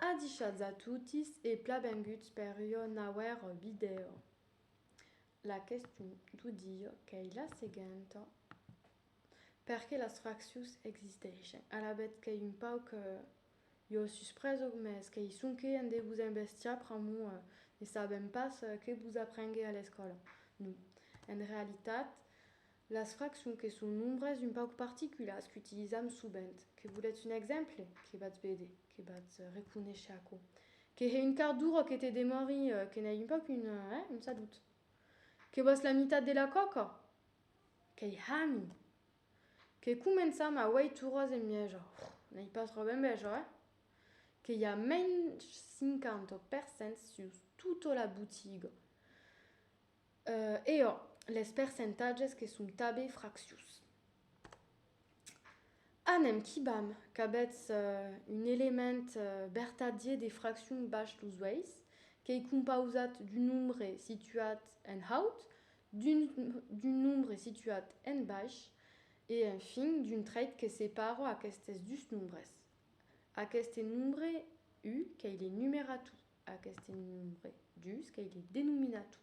Adishatz a totis e plabenguts per ua nauèra vidèo. La question d'au dia qu'ei la seguenta, Perqué las fraccions existeishen? Alavetz qu'ei un pauc ua suspresa o mès qu'ei sonque un de vos embestiar pr'amor ne sabèm pas que vos aprengué a l'escòla? Non, en realitat Las fracs sonque son nombres un pauc particulars qu'utilizam sovent. Que volètz un exemple? Que batz véder? Que batz reconéisher aquò? Que hè un quart d'ora que te demòri? Que n'ai un pauc un, hè, un salut? Que vòs la mitat de la còca? Qu'ei hami! Que començam a uèit oras en mièja? Ohh! N'ei pas tròp enveja, hè? Que i a mensh 50 persents sus tota la botiga. E ò, les percentatges que son tabé fractius. Anem quibam qu'abetz un element bertadier de fraccion bach los uèis, qu'ei compausat d'un nombre situat en haut, d'un nombre situat en baish e, enfin, d'un treit que separa aquestes dus nombres, aqueste nombre u qu'ei le numerator. Aqueste nombre dus qu'ei de denominator.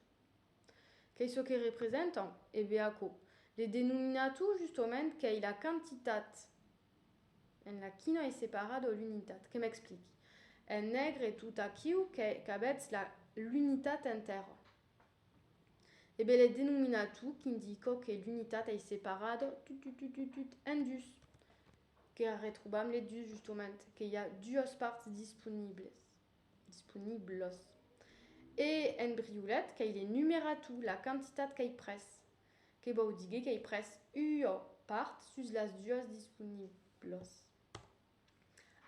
Qu'ei çò que representan? E be aquò. De denominator justement qu'ei la quantitat en la quina ei separada l'unitat. Que m'expliqui. En negre tot aquiu qu'avètz la l'unitat entèra. E be le denominator qu'indica que l'unitat ei separada tut tut tut tut tut en dus. Que arretrobam le dus justement. Que i a duas parts disponibles. disponiblos. E en briolet qu'ei de numerar tu la quantitat qu'ei pres, que vòu digue qu'ei pres ua part sus las duas disponiblos.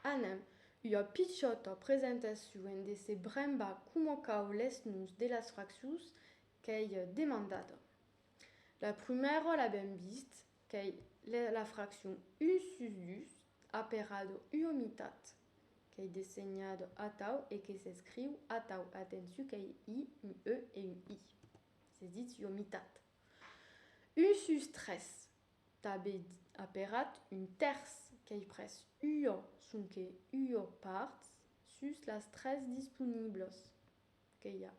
Anem, ua pichòta presentacion en de se brembar coma cau les noms de las fraccions qu'ei demandada. La prumèra l'avèm vist, qu'ei la fraccion un sus dus, Aperado ua mitat. Qu'ei dessenhado atau e que s'escriu atau. Atenciu qu'ei i, un e e un i. S'es ditz ua mitat. Un sus tres. Tanben aperat un tèrç. Qu'ei pres ua, sonque ua part sus las tres disponiblas. Que i a.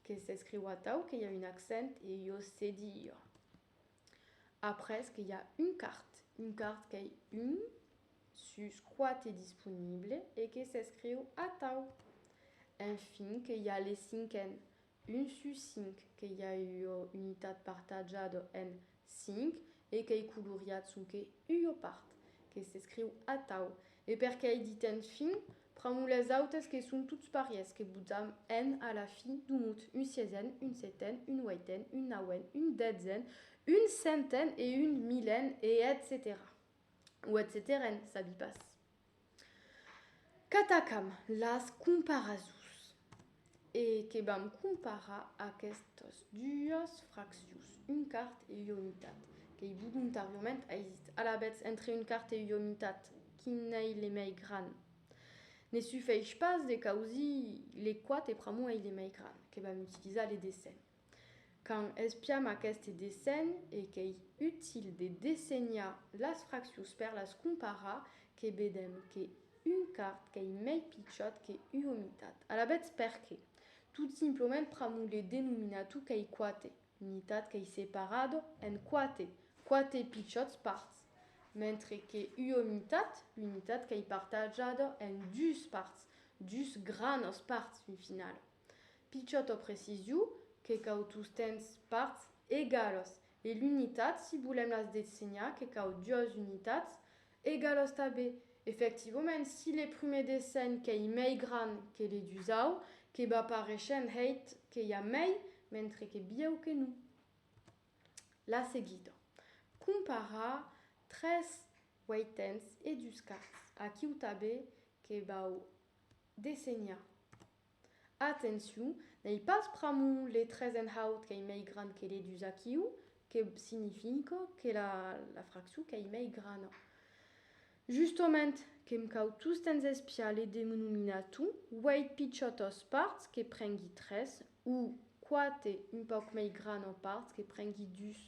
Que s'escriu atau que i a un accent e jo se di jo. Après que i a un cart. Un cart qu'ei un sus quate disponible e que s'escriu atau. Enfin que i a le cinquen. Un sus cinc que i a ua unitat partajada en cinc e qu'ei coloriat sonque ua part, que s'escriu atau, e per qu'ei dit enfin, pramo les autes que son tots parièrs, que botam en a la fi, domot, un sièsen, un seten, un ueiten, un nauèn, un detzen, un centen e un milen, e etcetèra. O etcetèren, sabi pas. Qu'atacam las comparazons e que vam comparar aquestas duas fraccions, un quart e ua mitat, qu'ei voluntàriament aisit. Alavetz, entre un quart e ua mitat, quin ei le mei gran? Ne sufeish pas de causir le quate pr'amor ei le mei gran, que vam utilizar le dessenh. Quand espiam aqueste dessenh e qu'ei util de dessenhar las fraccions per las comparar, que vedem que un quart qu'ei mei pichòt que ua mitat. Alavetz perqué? Tot simplement pramo le denominator qu'ei quate, mitat qu'ei separada en quate, quate pichòts parts, mentre que ua mitat, unitat qu'ei partajada en dus parts, dus granas parts, un final. Pichòt o precisiu que cau tostemps parts egalos e l'unitat si volèm las dessenhar que cau duas unitats egalos tanben. Efectivament si le prumèr dessenh qu'ei mei gran que le dusau que va pareishent hèit que i a mei mentre que bieu que non. La seguida. Comparar tres ueitens e dus quarts. Aquiu tanben que vau dessenhar. Atencion, n'ei pas pr'amont le tres en haut qu'ei mei grand que le dus aquiu que significa que la fraccion qu'ei mei grana. Justement, que'm cau tostemps espiar le denominator, uèit pichòtas parts que prengui tres, o quate un pauc mei grana parts que prengui dus.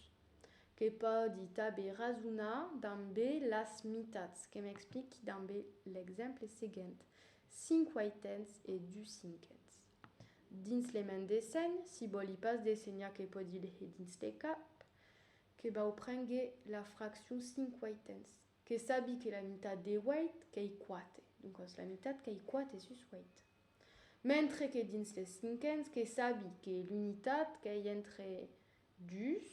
Que pòdi tanben rasonar dambe las mitats, que'm expliqui dambe l'exemple seguent. Cinc ueitens e dus cinquens. Dins le men dessenh, si vòli pas dessenhar que pòdi leger dins le cap, que vau prengre la fraccion cinc ueitens, que sabi que la mitat de ueit qu'ei quate, doncas la mitat qu'ei quate sus ueit. Mentre que dins le cinquens, que sabi que l'unitat qu'ei entre dus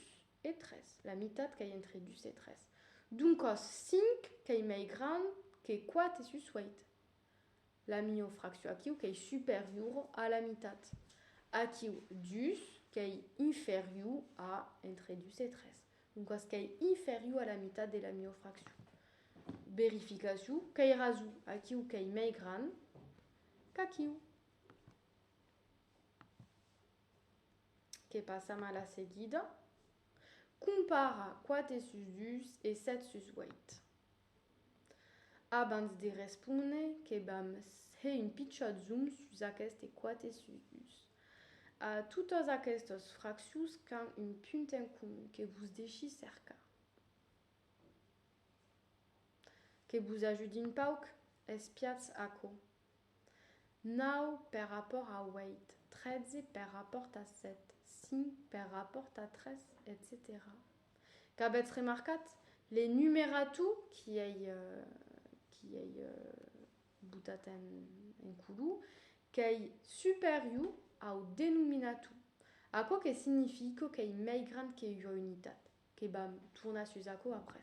e tres, la mitat qu'ei entre dus e tres. Doncas cinc qu'ei mei grand que quate sus ueit. la mior fraccion, aquiu qu'ei superior a la mitat, aquiu dus qu'ei inferior a entre 2 e 3, doncas qu'ei inferior a la mitat de la mior fraccion. Verificacion qu'ei raso, aquiu qu'ei mei grand qu'aquiu. Que passam a la seguida. Compara 4 sus 2 e 7 sus 8. Abans de respóner que vam hèr un pichat zoom sus aqueste quate sus. A totas aquestos fraccios qu'an un punt en comun que vos deshi cercar. Que vos ajudin pauc, espiatz aquò. 9 per rapòrt a 8, 13 per rapòrt a 7, 5 per rapòrt a 3, etcetèra Qu'avètz remarcat, le numeratu qui ei, qui ei botat en, en culu, qu'ei superiu au denominatu, aquò que significo qu'ei mei grand que ua unitat, que vam tornar sus aquò après.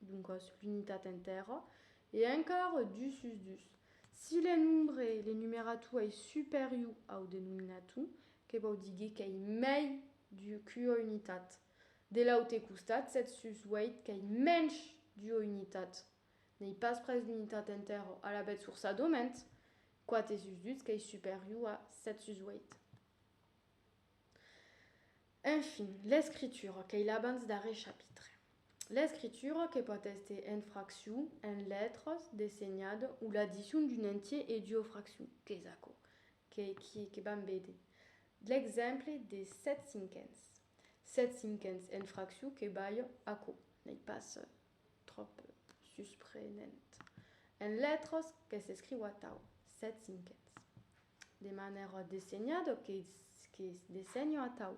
doncas l'unitat entèra, e encara dus sus dus, si le nombre le numerator ei superior au denominator, que vòu díger qu'ei mei d'ua unitat. De l'aute costat, 7 sus 8 qu'ei mensh d'ua unitat, n'ei pas pres l'unitat entèra, alavetz forçadament, 4 sus 12 qu'ei superior a 7 sus 8. Enfin, l'escritura, qu'ei l'abans darrer chapitre. L'escritura que pòt èster en fraccion, en letras, dessenhada o l'addicion d'un entier e d'ua fraccion, qu'es aquò que vam véder de l'exemple de sèt cinquens. Sèt cinquens en fraccion que balha aquò, n'ei pas tròp susprenent. En letras, que s'escriu atau, sèt cinquens. De manèra dessenhada que es dessenho atau.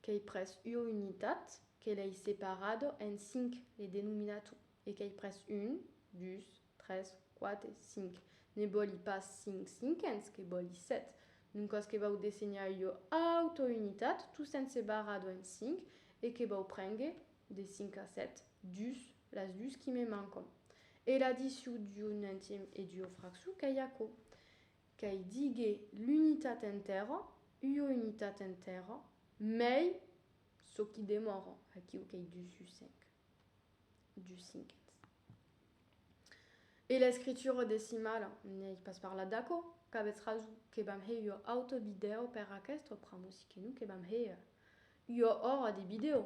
Qu'ei pres ua unitat que l'ei separada en cinc, le denominator, e qu'ei pres un, dus, tres, quate, cinc. Ne vòli pas cinc cinquens, que vòli set. Doncas que vau dessenhar ua auta unitat, tostemps separada en cinc, e que vau prénguer de cinc a set, dus, Las dus qui me mancon. E la diciu d'u nentièm e d'u fraxu qu'ei aquò. Qu'ei díger l'unitat entèra, ua unitat entèra, mei çò qui demòra, aquiu qu'ei dus u cinc, dus cinquens. E l'escritura decimala, n'ei pas parlat d'aquò, qu'avètz rason, que vam hèr ua auta vidèo per aquesta pr'amor si que non que vam hèr ua ora de vidèo.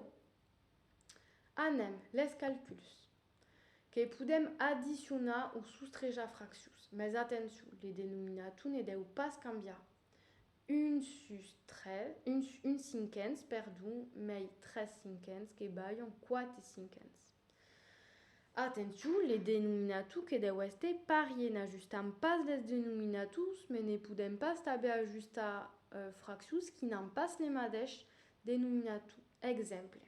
Anem les calculs. Que podem addicionar o sostrejar fraccions. Mes atencion, le denominator ne deu pas cambiar. 1 sus 3, 1 cinquens, perdon, mei 3 cinquens que balhon 4 cinquens. Atencion, le denominator que deu èster parier. N'ajustam pas les denominators, mes ne podem pas tanben ajustar fraccions qui n'an pas le madeish Denominator, exemple,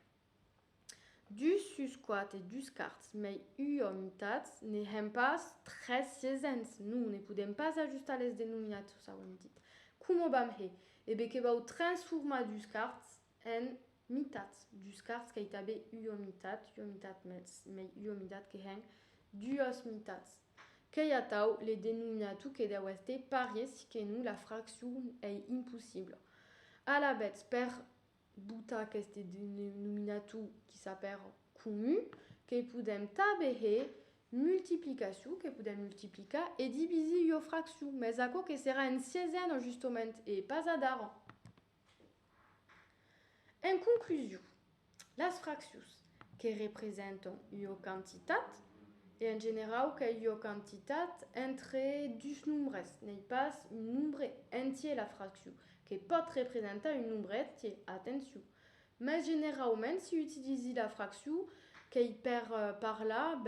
Dus sus quate dus cards, mei ua mitat, ne hèm pas tres siesents, non, ne podèm pas ajustar les denominators, auem dit. Coma vam hè? E be que vau transformar dus cards en mitats, dus cards qu'ei tanben ua mitat, ua mitat mei ua mitat que hèn duas mitats. Qu'ei atau le denominator que deu èster parier si que non la fraccion ei impossibla. Alavetz, per botar aqueste denominator qui s'apèra comun, que podem tanben hè multiplicacion, que podem multiplicar e divisir ua fraccion, mès aquò que serà en siesena justement e pas adara. En conclusion, las fraccions que representan ua quantitat, e en generau qu'ei ua quantitat entre dus nombres, n'ei pas un nombre entier la fraccion, que pòt representar un nombre entier, atencion, mas generauments se utilizi la fraccion qu'ei per parlar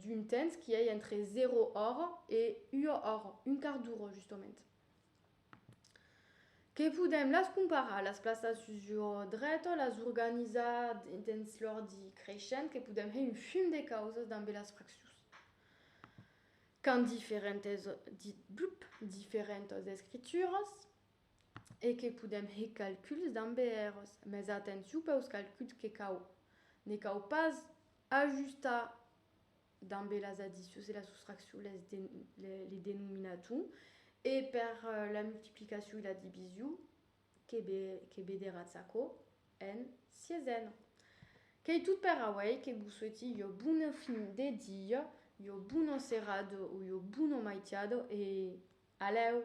d'un temps qui ei entre 0 ora e ua ora, un quart d'ora justament. que podèm las comparar las plaças sus lo drech las organizar dins l'òrdre creishent que podèm hèr un fum de causas damb las fraccions qu'an diferentas escrituras e que podèm hèr calculs damb eles mas atencion peus calculs que ne cau pas ajustar dambe las addicions e las soustraccions les denominaton e per la multiplicacion e la division que vederatz aquò en siesena. Qu'ei tot per auei, que vos sueti ua bona fin de dia, ua bona serada o ua bona maitiada e alèu!